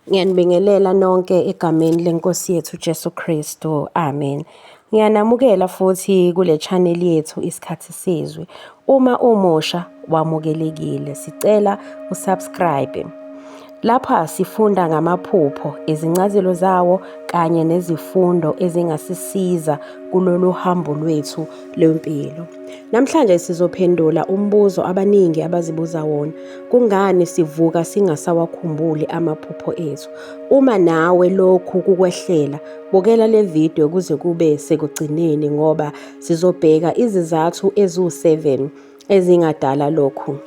Ngiyanibingelela nonke egameni leNkosi yethu Jesu Kristu. Amen. Ngiyanamukela futhi kule channel yethu isikhathi sizwe. Uma umusha wamukelekile, sicela usubscribe. Lapha sifunda ngamaphupho, izincazelo zawo kanye nezifundo ezingasisiza kulolu hambo lwethu lwempilo. Namhlanje sizophendula umbuzo abaningi abazibuza wona. Kungani sivuka singasawakhumbuli amaphupho ethu? Uma nawe lokhu kukwehlela, bukela le video kuze kube sekugcineni ngoba sizobheka izizathu eziwu-7 ezingadala lokhu.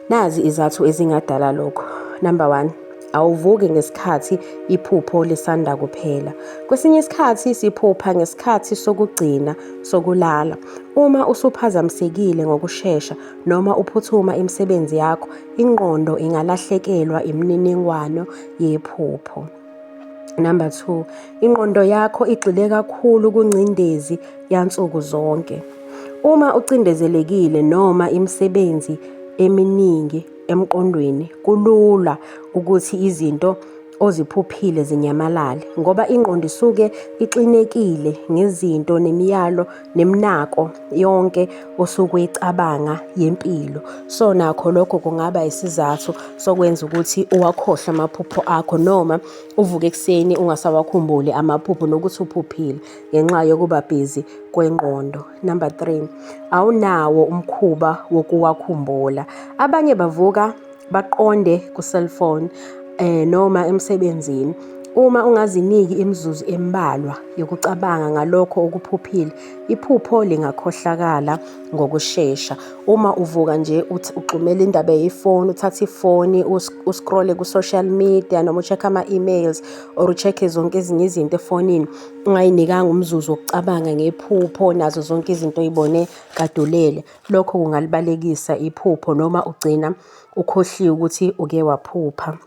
Nazi izathu ezingadala lokhu. Number 1 awuvuki ngesikhathi iphupho lisanda kuphela. Kwesinye isikhathi siphupha ngesikhathi sokugcina sokulala. Uma usuphazamisekile ngokushesha Noma uphuthuma imisebenzi yakho, ingqondo ingalahlekelwa imininingwano yephupho. Number two, ingqondo yakho igxile kakhulu kungcindezi yansuku zonke. Uma ucindezelekile noma imisebenzi eminingi emqondweni, kulula ukuthi izinto oziphuphile zinyamalale ngoba ingqondo isuke ixinekile ngezinto nemiyalo nemnako yonke osuke uyicabanga yempilo. So nakho lokho kungaba isizathu sokwenza ukuthi uwakhohlwe amaphupho akho noma uvuke ekuseni ungasawakhumbuli amaphupho nokuthi uphuphile ngenxa yokuba busy kwengqondo. Number three, awunawo umkhuba wokuwakhumbula. Abanye bavuka baqonde ku-cellphone eh noma emsebenzini uma ungaziniki imizuzu embalwa yokucabanga ngalokho okuphuphile iphupho lingakhohlakala ngokushesha uma uvuka nje uthi uxumela indaba yefoni uthatha ifoni uscrolle ku-social media noma ucheck ama-emails or ucheck zonke ezinye izinto efonini ungayinikanga umzuzu wokucabanga ngephupho nazo zonke izinto oyibone kadulele Lokho kungalibalekisa iphupho noma ugcina ukhohliwe ukuthi uke waphupha.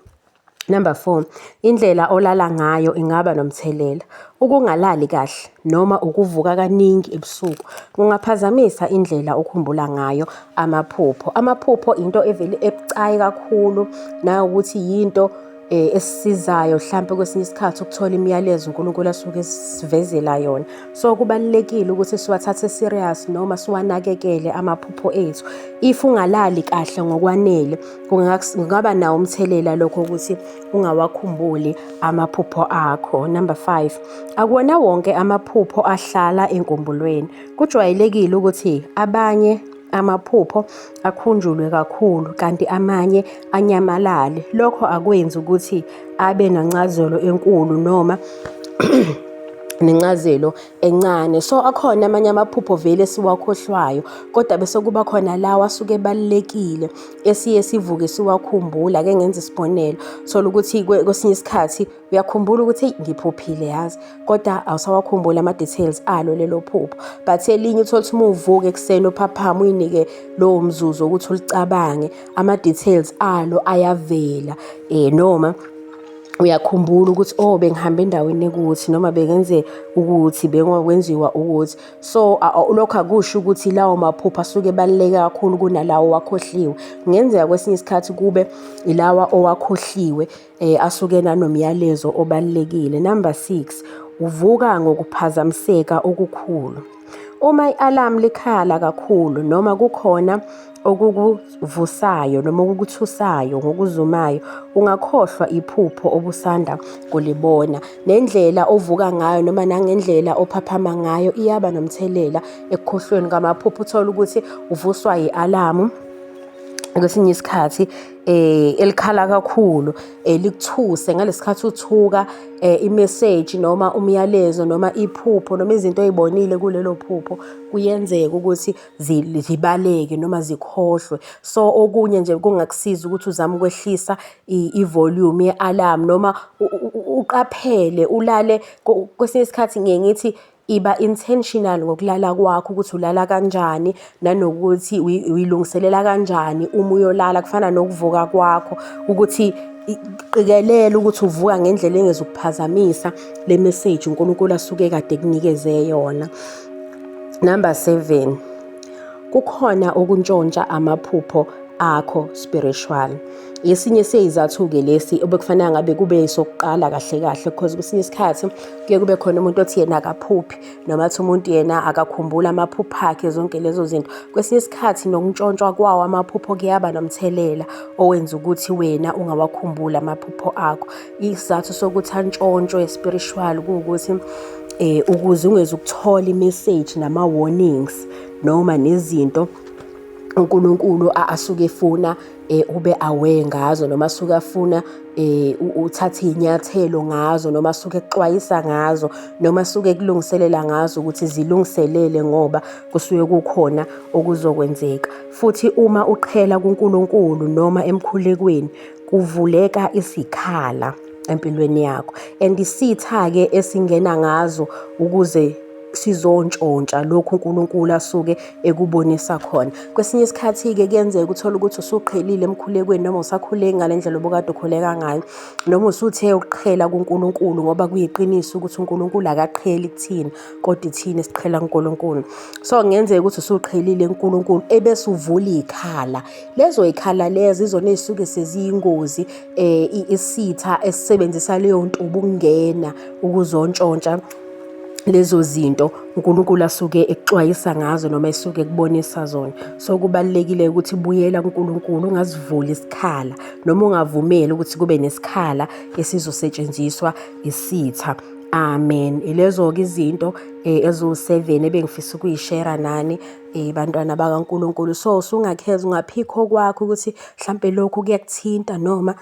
Number four, indlela olala ngayo ingaba nomthelela. Ukungalali kahle noma ukuvuka kaningi ebusuku kungaphazamisa indlela okhumbula ngayo amaphupho. Amaphupho into evele ebucayi kakhulu nawukuthi yinto eh, esisizayo mhlampe kwesinye isikhathi ukuthola imiyalezo uNkulunkulu asuke esivezela yona so kubalekile ukuthi siwathathe serious noma siwanakekele amaphupho ethu if ungalali kahle ngokwanele kungaba nawo umthelela lokho ukuthi ungawakhumbuli amaphupho akho number 5 akuwona wonke amaphupho ahlala enkumbulweni kujwayelekile ukuthi abanye amaphupho akhunjulwe kakhulu kanti amanye anyamalale lokho akwenzi ukuthi abe nancazelo enkulu noma nencazelo encane so akhona amanye amaphupho vele siwakhohlwayo kodwa bese kuba khona lawa asuke ebalulekile esiye sivuke siwakhumbula ke ngenza isibonelo thola ukuthi kwesinye isikhathi uyakhumbula ukuthi eyi ngiphuphile yazi kodwa awusawakhumbuli ama-details alo lelo phupho but elinye uthole ukuthi uma uvuka ekuseni uphaphama uyinike lowo mzuzu ukuthi ulicabange ama-details alo ayavela um noma uyakhumbula ukuthi oh bengihambe endaweni ekuthi noma bengenze ukuthi bengokwenziwa ukuthi so lokho akusho ukuthi lawo maphupho asuke ebaluleke kakhulu kunalawo wakhohliwe kungenzeka kwesinye isikhathi kube ilawa owakhohliwe eh, asuke nanomyalezo obalulekile. Number six, uvuka ngokuphazamiseka okukhulu. Uma i-alarm likhala kakhulu noma kukhona okukuvusayo noma okukuthusayo ngokuzumayo ungakhohlwa iphupho obusanda kulibona nendlela ovuka ngayo noma nangendlela ophaphama ngayo iyaba nomthelela ekukhohlweni kwamaphupho uthole ukuthi uvuswa yi-alamu kwesinye isikhathi eh elikhala kakhulu elikuthuse eh, ngalesikhathi uthuka eh, imessage noma umyalezo noma iphupho noma izinto ezibonile kulelo phupho kuyenzeka ukuthi zibaleke noma zikhohlwe so okunye nje kungakusiza ukuthi uzame ukwehlisa ivolume yealarm noma uqaphele ulale kwesinye isikhathi ngiye ngithi Iba intentional ngokulala kwakho ukuthi ulala kanjani nanokuthi uyilungiselela kanjani uma uyolala kufana nokuvuka kwakho ukuthi qikelela ukuthi uvuka ngendlela engezukuphazamisa le message uNkulunkulu asuke kade kunikeze yona. Number 7 kukhona ukuntshontsha amaphupho akho spiritual esinye seyizathu-ke lesi obekufanele ngabe kube sokuqala kahle kahle because kwesinye isikhathi kuye kube khona umuntu othi yena akaphuphi noma athi umuntu yena akakhumbula amaphupho akhe zonke lezo zinto kwesinye isikhathi nokuntshontshwa kwawo amaphupho kuyaba nomthelela owenza ukuthi wena ungawakhumbuli amaphupho akho isizathu sokuthi antshontshwe spiritual kuwukuthi eh ukuze ungeze ukuthola imessage nama warnings noma nezinto uNkulunkulu asuke efuna eh ube aware ngazo noma asuke afuna eh uthathe inyathelo ngazo noma asuke ekuxwayisa ngazo noma asuke kulungiselela ngazo ukuthi zilungiselele ngoba kusuke kukhona okuzokwenzeka futhi uma uqhela kuNkulunkulu noma emkhulekweni kuvuleka isikhala empilweni yakho and isitha-ke esingena ngazo ukuze sizontshontsha lokhu uNkulunkulu asuke ekubonisa khona kwesinye isikhathi-ke kuyenzeka uthole ukuthi usuqhelile emkhulekweni noma usakhuleki ngale ndlela obukade ukhuleka ngayo noma usuthe ukuqhela kuNkulunkulu ngoba kuyiqiniso ukuthi uNkulunkulu akaqheli kuthina kodwa ithina siqhela kuNkulunkulu so kungenzeka ukuthi usuqhelile kuNkulunkulu ebese uvula ikhala lezo y'khala lezo izona ey'suke seziyingozi um isitha esisebenzisa leyo ntuba ukungena ukuzontshontsha lezo zinto uNkulunkulu asuke ekuxwayisa ngazo noma esuke ekubonisa zona so kubalekile ukuthi buyela kuNkulunkulu ungazivuli isikhala noma ungavumeli ukuthi kube nesikhala esizosetshenziswa isitha amen ilezo ke izinto eh, eziwu-7 ebengifisa ukuyishera nani bantwana bakaNkulunkulu. So, usungakhetha ungaphikha okwakho ukuthi hlampe lokhu kuyakuthinta noma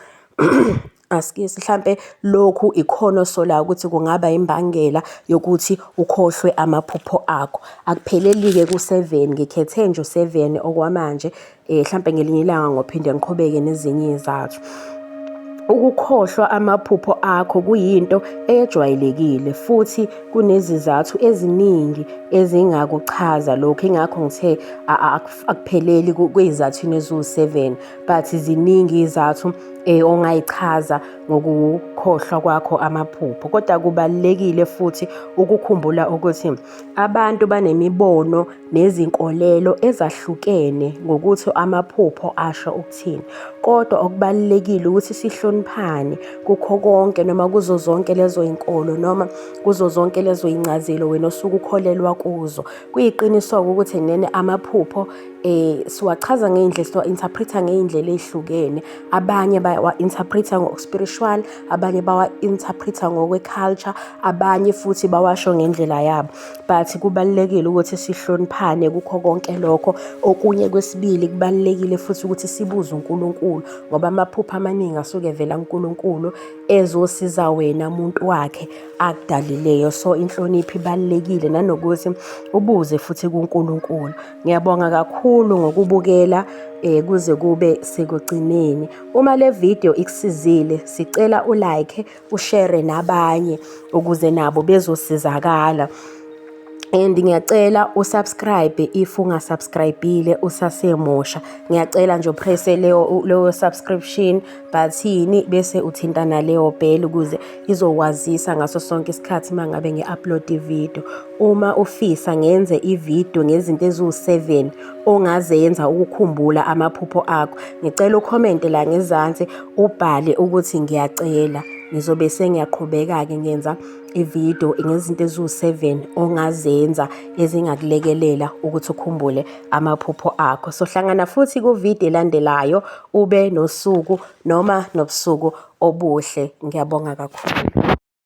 askies hlampe lokhu ikhona osolayo ukuthi kungaba imbangela yokuthi ukhohlwe amaphupho akho. Akupheleli-ke ku-seven, ngikhethe nje u-seven okwamanje um hlampe ngelinye ilanga ngophinde ngiqhubeke nezinye izathu ukukhohlwa amaphupho akho kuyinto ejwayelekile futhi kunezizathu eziningi ezingakuchaza lokho ingakho ngithe akupheleli kwezizathwini eziwu-7 but ziningi izathu um eh, ongayichaza ngokukhohlwa kwakho amaphupho kodwa kubalulekile futhi ukukhumbula ukuthi Abantu banemibono nezinkolelo ezahlukene ngokuthi amaphupho asho ukuthini, kodwa okubalulekile ukuthi sihloniphane kukho konke noma kuzo zonke lezo inkolo noma kuzo zonke lezo incazelo wena osuke ukholelwa kuzo. Kuyiqiniso-ke ukuthi nene amaphupho um siwachaza ngey'ndlela siwa-interpret-a ngey'ndlela ey'hlukene. abanye bawa-interpretha ngokuspiritual abanye bawa-interpretha ngokwe-culture abanye futhi bawasho ngendlela yabo but kubalulekile ukuthi sihloniphane kukho konke lokho okunye kwesibili kubalulekile futhi ukuthi sibuze uNkulunkulu ngoba amaphupho amaningi asuke evela kuNkulunkulu ezosiza wena muntu wakhe akudalileyo so inhlonipho ibalulekile nanokuthi ubuze futhi kuNkulunkulu Ngiyabonga kakhulu ngokubukela eh kuze kube sekugcineni. Uma le video ikusizile, sicela u like, u share nabanye ukuze nabo bezosizakala. And ngiyacela u subscribe if unga subscribile usasemusha. Ngiyacela nje press leyo leyo subscription button bese uthintana leyo bell ukuze izokwazisa ngaso sonke isikhathi mangabe ngi upload video. Uma ufisa ngenze ivideo ngezinto eziwu-7 ongazenza ukukhumbula amaphupho akho. Ngicela ukhomente la ngezansi ubhale ukuthi ngiyacela. Ngizobe sengiyaqhubeka-ke ngenza ivideo ngezinto eziwu-7 ongazenza ezingakulekelela ukuthi ukhumbule amaphupho akho. So hlangana futhi kuvideo elandelayo ube nosuku noma nobusuku obuhle. Ngiyabonga kakhulu.